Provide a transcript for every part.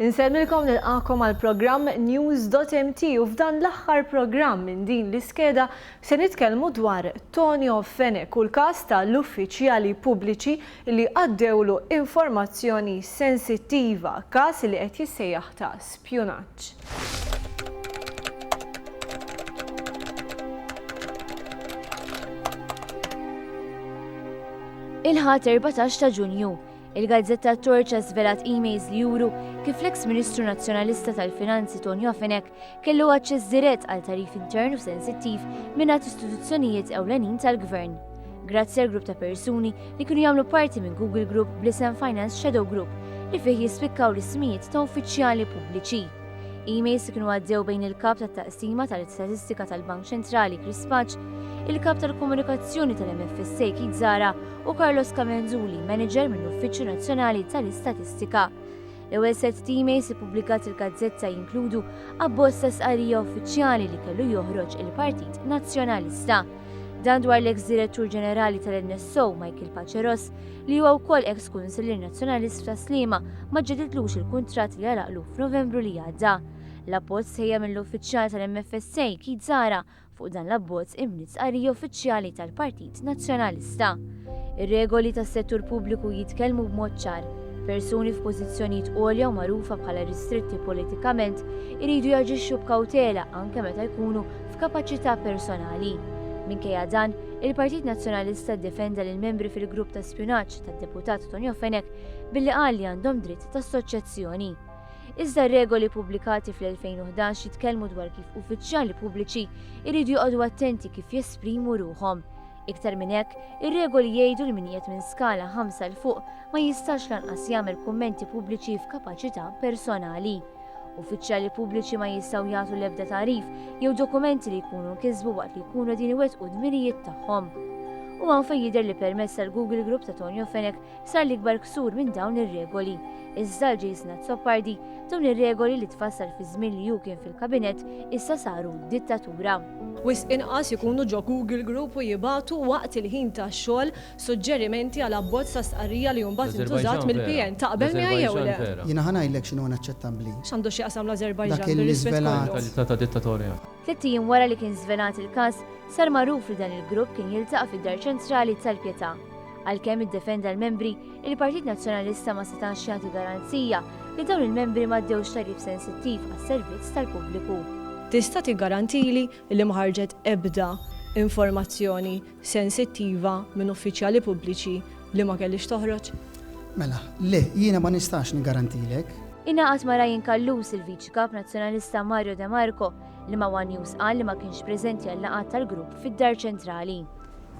Insellmilkom u nilqagħkom għall-programm News.mt u f'dan l-aħħar programm minn din l-iskeda se nitkellmu dwar Tonio Fenech u l-każ ta' l-uffiċjali pubbliċi li għaddewlu informazzjoni sensittiva, każ li qed jissejjaħ ta' spjunaġġ. Il-Ħadd 14 ta' Ġunju, Il-gazzetta t-Torċa żvelat emails li juru kif l-eks Ministru Nazzjonalista tal-Finanzi Ton Jofinek kellu aċċess dirett għal tarif intern u sensittiv mingħand istituzzjonijiet ewlenin tal-Gvern. Grazzi għal grupp ta' persuni li kienu jagħmlu parti minn Google Group bl-isem Finance Shadow Group li fih jispikkaw l-ismijiet ta' uffiċjali pubbliċi. Emails kienu għaddew bejn il-kap tat taqsima tal-istatistika tal-Bank Ċentrali Chris Paċ, il-kap tal-komunikazzjoni tal-MFSA Kid Zara u Carlos Camenzuli, manager mill-Uffiċċju Nazzjonali tal-Istatistika. L-ewwel set teammates ippubblikat il-gazzetta jinkludu abbozz ta' sqarrija uffiċjali li kellu joħroġ il-Partit Nazzjonalista. Dan dwar l-eks direttur ġenerali tal-NSO Michael Paceros li huwa wkoll eks kunsillier nazzjonalist ta' Slima ma ġedidlux il-kuntratt li għalaqlu f'Novembru li għadda. L-appost sejja mill-uffiċjal tal-MFSA Kid Zara Fuq dan l-abbozz imniet stqarrija uffiċjali tal-Partit Nazzjonalista. Ir-regoli tas-settur pubbliku jitkellmu b'mod ċar, persuni f'pożizzjonijiet għolja u magħrufa bħala ristritti politikament iridu jaġixxu b'kawtela anke meta jkunu f'kapaċità personali. Minkejja dan, il-Partit Nazzjonalista ddefenda lill-membri fil-grupp ta' spjunaġġ tad-Deputat Tonio Fenech billi qal li għandhom dritt ta' assoċjazzjoni. iżda r-regoli ppubblikati fl-2011 jitkellmu dwar kif uffiċjali pubbliċi jridu joqogħdu attenti kif jesprimu ruħhom. Iktar minn hekk, ir-regoli jgħidu li min qiegħed minn skala ħamsa 'l fuq ma jistax lanqas jagħmel kummenti pubbliċi f'kapaċità personali. Uffiċjali pubbliċi ma jistgħu jagħtu l-ebda tagħrif jew dokumenti li jkunu nkisbu waqt li jkunu din iwettqu d-dmirijiet tagħhom. U hawn fejn jidher li permezz tal-Google Group ta' Tonio Fenek Sar l-ikbar ksur minn dawn ir-regoli. Iżda għal Jason Azzopardi, dawn ir-regoli li tfassal fiż-żmien li hu kien fil-Kabinett issa saru dittatura. Wisq inqas ikunu ġo Google Group u jibagħtu waqt il-ħin tax-xogħol suġġerimenti għal abbozz ta' stqarrija li hu mbagħad intużat mill-PN. Taqbel miegħi jew le? Jiena ħa ngħidlek x'inhu inaċċettabbli. X'għandu x'jaqsam l-Ażerbajġan bir-rispett kollu? Tliet ijiem wara li kien żvelat il-każ, sar magħruf li dan il-grupp kien jiltaqa' fid-Dar Ċentrali tal-Pietà. Għalkemm iddefenda l-membri, il-Partit Nazzjonalista ma setax jagħti garanzija li dawn il-membri ma ddewx tagħrif sensittiv għas-servizz tal-pubbliku. Tista' tiggarantili li ma ħarġet ebda informazzjoni sensittiva minn uffiċjali pubbliċi li ma kellhiex toħroġ? Mela, le, jiena ma nistax niggarantilek. Ingħaqad ma' Ryan Callus il-Viċi Kap Nazzjonalista Mario De Marco li ma' One News qal li ma kienx preżenti għal-laqgħat tal-grupp fid-Dar Ċentrali.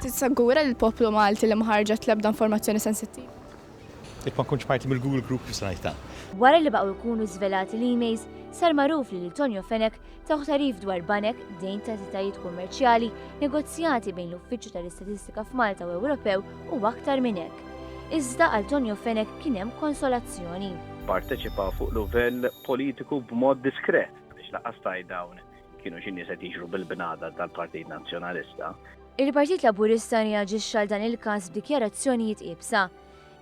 Tissagura li l-poplu Malti li ma ħarġet l-ebda informazzjoni sensittiva. Jekk ma nkunx parti mill-Google Group x'se ngħid ta'. Wara li baqgħu jkunu żvelati l-emails, sar magħruf li lil Tonio Fenech tawh tagħrif dwar banek, dejn t'entitajiet kummerċjali, negozjati bejn l-Uffiċċju tal-Istatistika f'Malta u Ewropew u aktar minn hekk. Iżda għal Tonio Fenech kien hemm konsolazzjoni. Pparteċipa fuq luvell politiku b'mod diskret, biex laqqas tgħid dawn. Kienu xi nies qed jiġru bil-bnada tal-Partit Nazzjonalista. Il-Partit Laburista reaġixxa għal dan il-każ b'dikjarazzjonijiet iebsa.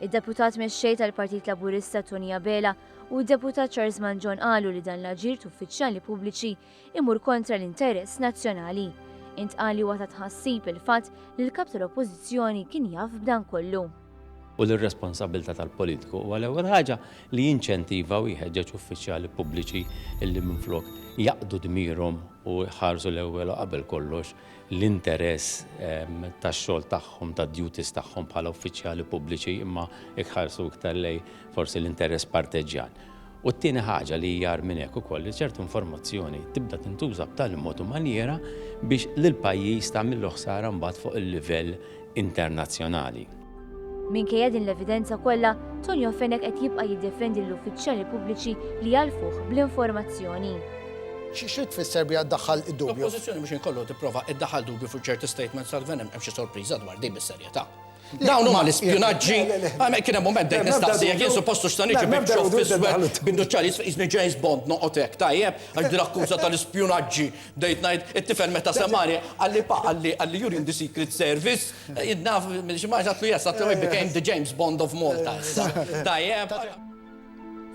Id-Deputat Mexxej tal-Partit Laburista Tony Abela u d-Deputat Charles Manġon qalu li dan l-aġir t'uffiċjali pubbliċi imur kontra l-interess nazzjonali. Intqal li huwa ta' tħassib il-fatt li l-Kap tal-Oppożizzjoni kien jaf b'dan kollu. u li r-responsabbiltà tal-politiku huwa l-ewwel ħaġa li jinċentiva u jħeġġeġ uffiċjali pubbliċi li minflok jaqdu dmirhom u jħarsu l-ewwel u qabel kollox l-interess tax-xogħol tagħhom, tad-duties tagħhom bħala uffiċjali pubbliċi imma jħarsu iktar lejn forsi l-interess parteġġjan. U t-tieni ħaġa li hija agħar minn hekk ukoll li ċertu informazzjoni tibda tintuża b'tali mod u manjiera biex lill-pajjiż tagħmillu ħsara mbagħad fuq il-livell internazzjonali. Minkejja din l-evidenza kollha, Tonio Fenech qed jibqa' jiddefendi lill-uffiċjali pubbliċi li jgħarrfuh bl-informazzjoni. X'trid tfisser biha ddaħħal id-dubju? L-Oppożizzjoni mhux ħin kollu tipprova ddaħħal dubju fuq ċerti statements tal-Gvern hemm xi sorpriża dwar din bis-serjetà. Dawn huma l-ispjunaġġi. Kien hemm mument dejt nistaqsi jekk jien suppostu x'ta' niġi bibxof fiswed binduċċali jiżni James Bond noqgħod hekk tajjeb għax din akkuża tal-ispjunaġġi bdejt ngħid it-tifel meta semgħani qalli pa qalli qalli you're in the secret service naf xi ma għatlu yes għatlu I became the James Bond of Malta issa. Tajjeb.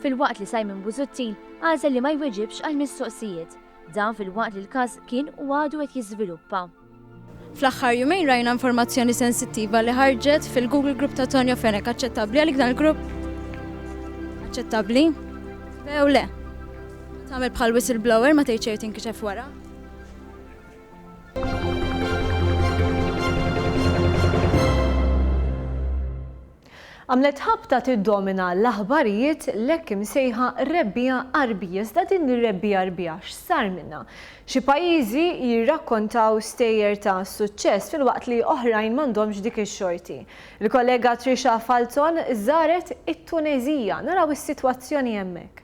Filwaqt li Simon Busuttil għażel li ma jweġibx għall-mistoqsijiet. Dan filwaqt li l-każ kien u għadu qed jiżviluppa. Fl-aħħar jumejn rajna informazzjoni sensittiva li ħarġet fil-Google Group ta' Tonio Fenech. Aċċettabbli għalik dan il-grupp? Aċċettabbli? Bew le. Tagħmel bħal whistleblower ma tgħid xejn tinkixef wara. Għamlet ħabta tiddomina l-aħbarijiet l-hekk imsejħa rebbiegħa Għarbija. Iżda din ir-rebbiegħa Għarbija x'sar minnha? Xi pajjiżi jirrakkontaw stejjer ta' suċċess filwaqt li oħrajn m'għandhomx dik ix-xorti. Il-kollega Trisha Falzon żaret it-Tuneżija. Naraw is-sitwazzjoni hemmhekk.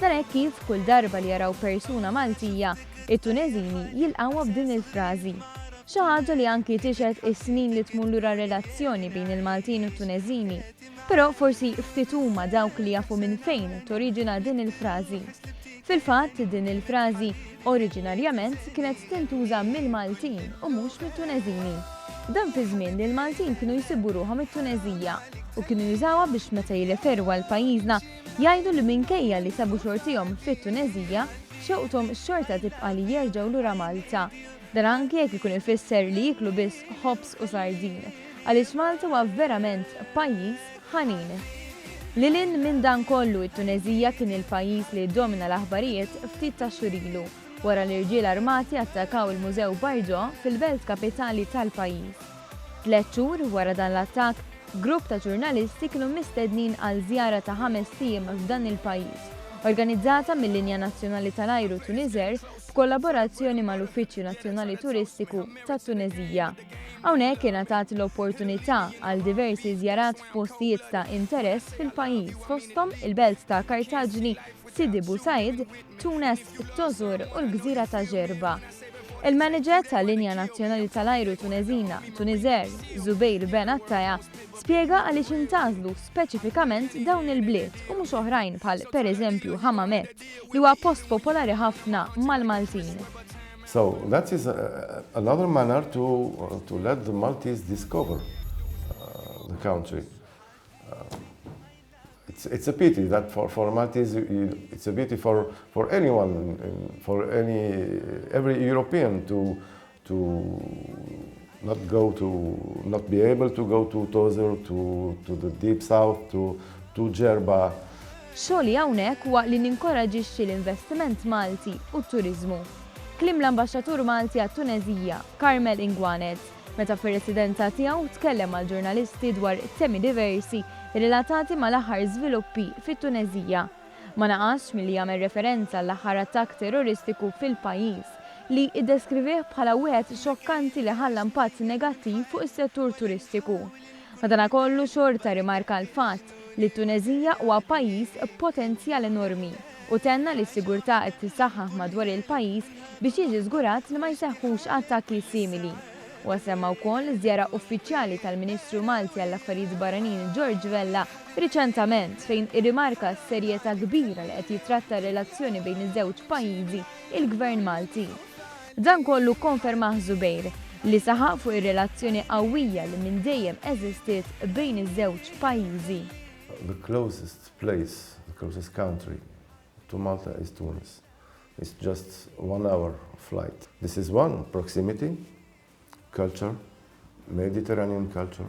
Nara hekk kif kull darba li jaraw persuna Maltija, it-Tuneżini jilqgħuha b'din il-frażi. Xi ħaġa li anki tixhed is-snin li tmur lura r-relazzjoni bejn il-Maltin u t-Tuneżini. Però forsi ftit huma dawk li jafu minn fejn toriġina din il-frażi. Fil-fatt, din il-frażi oriġinarjament kienet tintuża mill-Maltin u mhux mit-Tuneżini. Dan fi żmien li l-Maltin kienu jsibu ruħhom it-Tuneżija u kienu jużawha biex meta jirreferu għal pajjiżna Jgħidu li minkejja li sabu xortihom fit-Tuneżija, xewqthom xorta tibqa' li jerġgħu lura Malta. Dan anki jekk ikun ifisser li jieklu biss ħobż u sardin, għaliex Malta huwa verament pajjiż ħanin. Lil hinn minn dan kollu, it-Tuneżija kien il-pajjiż li ddomina l-aħbarijiet ftit tax-xhur ilu, wara li rġiel armati attakaw il-Mużew Bardo fil-belt kapitali tal-pajjiż. Tliet xhur wara dan l-attakk, grupp ta' ġurnalisti kienu mistednin għal żjara ta' ħamest ijiem f'dan il-pajjiż, organizzata mil-Linja Nazzjonali tal-Ajru Tuniżer b'kollaborazzjoni mal-Uffiċċju Nazzjonali Turistiku tat-Tuneżija. Hawnhekk ingħatat l-opportunità għal diversi żjarat f'postijiet ta' interess fil-pajjiż fosthom il-belt ta' Kartaġni, Sidi Bou Said, Tunes, it-Tożur u l-gżira ta' Gerba. Il-manager tal-linja nazzjonali tal-ajru Tuneżina, Tunisair, Zubair Ben Attaya, spjega għaliex intgħażlu speċifikament dawn il-bliet u mhux oħrajn bħal pereżempju Hammamet li huwa post popolari ħafna mal-Maltin. So that is another manner to, to let the Maltese discover uh, the country. Uh, It's a pity that for formalities, it's a pity for for anyone, for any every European to to not go to not be able to go to Tozur, to to the deep south, to to Ġerba. Xogħli hawnhekk huwa li ninkoraġixxi l-investiment Malti u t-turiżmu. Kliem l-Ambaxxatur Malti għat-Tuneżija, Carmel Inguanet. meta fir-residenza tiegħu tkellem mal-ġurnalisti dwar temi diversi relatati mal-aħħar żviluppi fit-Tuneżija. Ma naqasx milli jagħmel referenza għall-aħħar attakk terroristiku fil-pajjiż, li iddeskrivieh bħala wieħed xokkanti li ħalla impatt negattiv fuq is-settur turistiku. Madanakollu xorta rimarka l-fatt li t-Tuneżija huwa pajjiż b'potenzjal enormi u tenna li s-sigurtà qed tissaħħaħ madwar il-pajjiż biex jiġi żgurat li ma jseħħux attakki simili. Huwa semma wkoll iż-żjara uffiċjali tal-Ministru Malti għall-Affarijiet Barranin George Vella riċentament fejn irrimarka s-serjetà kbira li qed jittratta r-relazzjoni bejn iż-żewġ pajjiżi l-Gvern Malti. Dan kollu kkonfermah Zubair, li saħaq fuq ir-relazzjoni qawwija li minn dejjem eżistiet bejn iż-żewġ pajjiżi. The closest place, the closest country to Malta is Tunis. It's just one hour flight. This is one, proximity, culture, Mediterranean culture,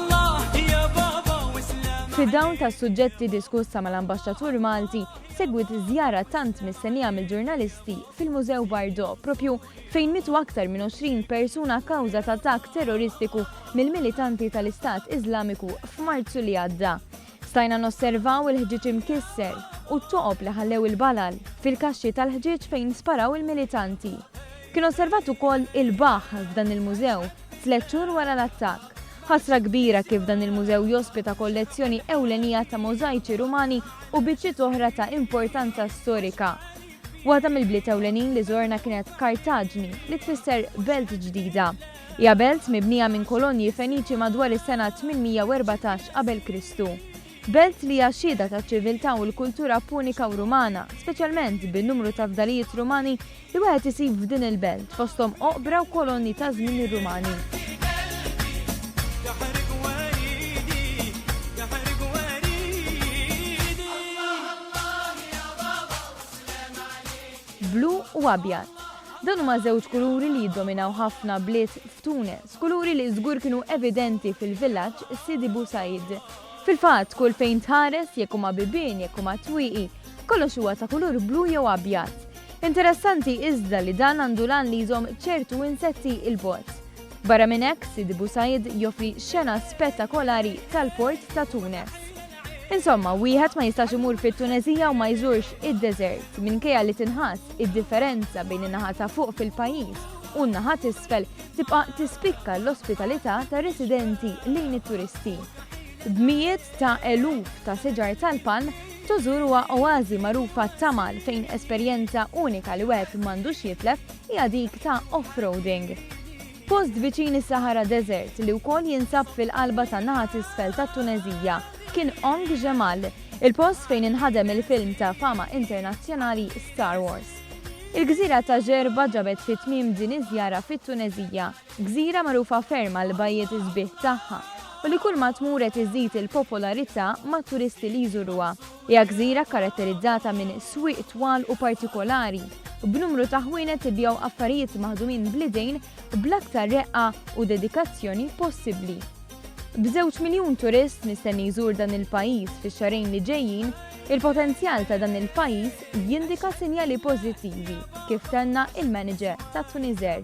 Fid-dawl tas-suġġetti diskussa mal-Ambaxxatur Malti, segwiet żjara tant mistennija mill-ġurnalisti fil-Mużew Bardo, proprju fejn mietu aktar minn 20 persuna kawża t'attakk terroristiku mill-militanti tal-Istat Iżlamiku f'Marzu li għadda. Stajna nosservaw il-ħġieġ imkisser u t-toqob li ħallew il-balal fil-kaxxi tal-ħġieġ fejn sparaw il-militanti. Kien osservat ukoll il-baħħ f'dan il-mużew tliet xhur wara l-attakk. Ħasra kbira kif dan il-mużew jospita kollezzjoni ewlenija ta' możajċi Rumani u biċċiet oħra ta' importanza storika. Waħda mill-bliet ewlenin li żorna kienet Kartaġni, li tfisser belt ġdida. Hija belt mibnija minn kolonji Feniċi madwar is-sena 814 qabel Kristu. Belt li hija xhieda taċ-ċiviltà u l-kultura Punika u Rumana, speċjalment bin-numru ta' fdalijiet Rumani Li wieħed isib f'din il-belt, fosthom oqbra u kolonni ta' żmien ir-Rumani. Blu u abjad. Dan huma żewġ kuluri li jiddominaw ħafna bliet f'Tunes, kuluri li żgur kienu evidenti fil-villaġġ Sidi Bou Said. Fil-fatt, kull fejn tħares, jekk huma bibien, jekk huma twieqi, kollox huwa ta' kulur blu jew abjad. Interessanti iżda li dan għandu l-għan li jżomm ċertu insetti 'l bogħod. Barra minn hekk, Sidi Bou Said joffri xena spettakolari tal-port ta' Tunes. Insomma, wieħed ma jistax imur fit-Tuneżija u ma jżurx id-deżert, minkejja li tinħass id-differenza bejn in-naħa ta' fuq fil-pajjiż u n-naħa t'isfel tibqa' tispikka l-ospitalità tar-residenti lejn it-turisti. B'mijiet ta' eluf ta' siġar tal-palm Tozur huwa oażi magħruf għat-tamal fejn esperjenza unika li wieħed m'għandux jitlef hija dik ta' off-roading. Post viċin is-Sahara Desert li wkoll jinsab fil-qalba tan-naħa t'isfel tat-Tuneżija kien Ong Jemal, il-post fejn inħadem il-film ta' fama internazzjonali Star Wars. Il-gżira ta' Gerba ġabet fit-tmiem din iż-żjara fit-Tuneżija. Gżira magħrufa ferm għall-bajjiet sbieħ tagħha u li kull ma tmur qed iżżid il-popolarità mat-turisti li jżuruha. Hija gżira kkaratterizzata minn swieq twal u partikolari, b'numru ta' ħwienet ibigħu affarijiet maħdumin bl-idejn bl-aktar reqqa u dedikazzjoni possibbli. B'żewġ miljun turist mistenni jżur dan il-pajjiż fix-xahrejn li ġejjin, il-potenzjal ta' dan il-pajjiż jindika sinjali pożittivi, kif tenna il-manager tat-Tunisair.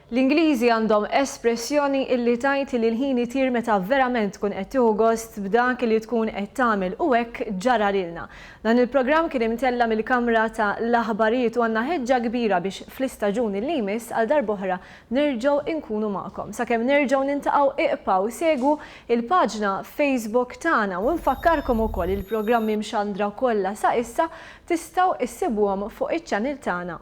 L-Ingliżi għandhom espressjoni illi tgħid li l-ħin itir meta verament tkun qed tieħu gost b'dak li tkun qed tagħmel u hekk ġara lilna. Dan il-programm kien imtella' mill-kamra ta' l-aħbarijiet u għandna ħeġġa kbira biex fl-istaġun illi jmiss għal darb'oħra nerġgħu inkunu magħkom. Sakemm nerġgħu nintaqgħu iqpgħu segwu il-paġna Facebook tagħna u nfakkarkom ukoll il-programmi mxandra kollha sa issa tistgħu issibuhom fuq iċ-channel tagħna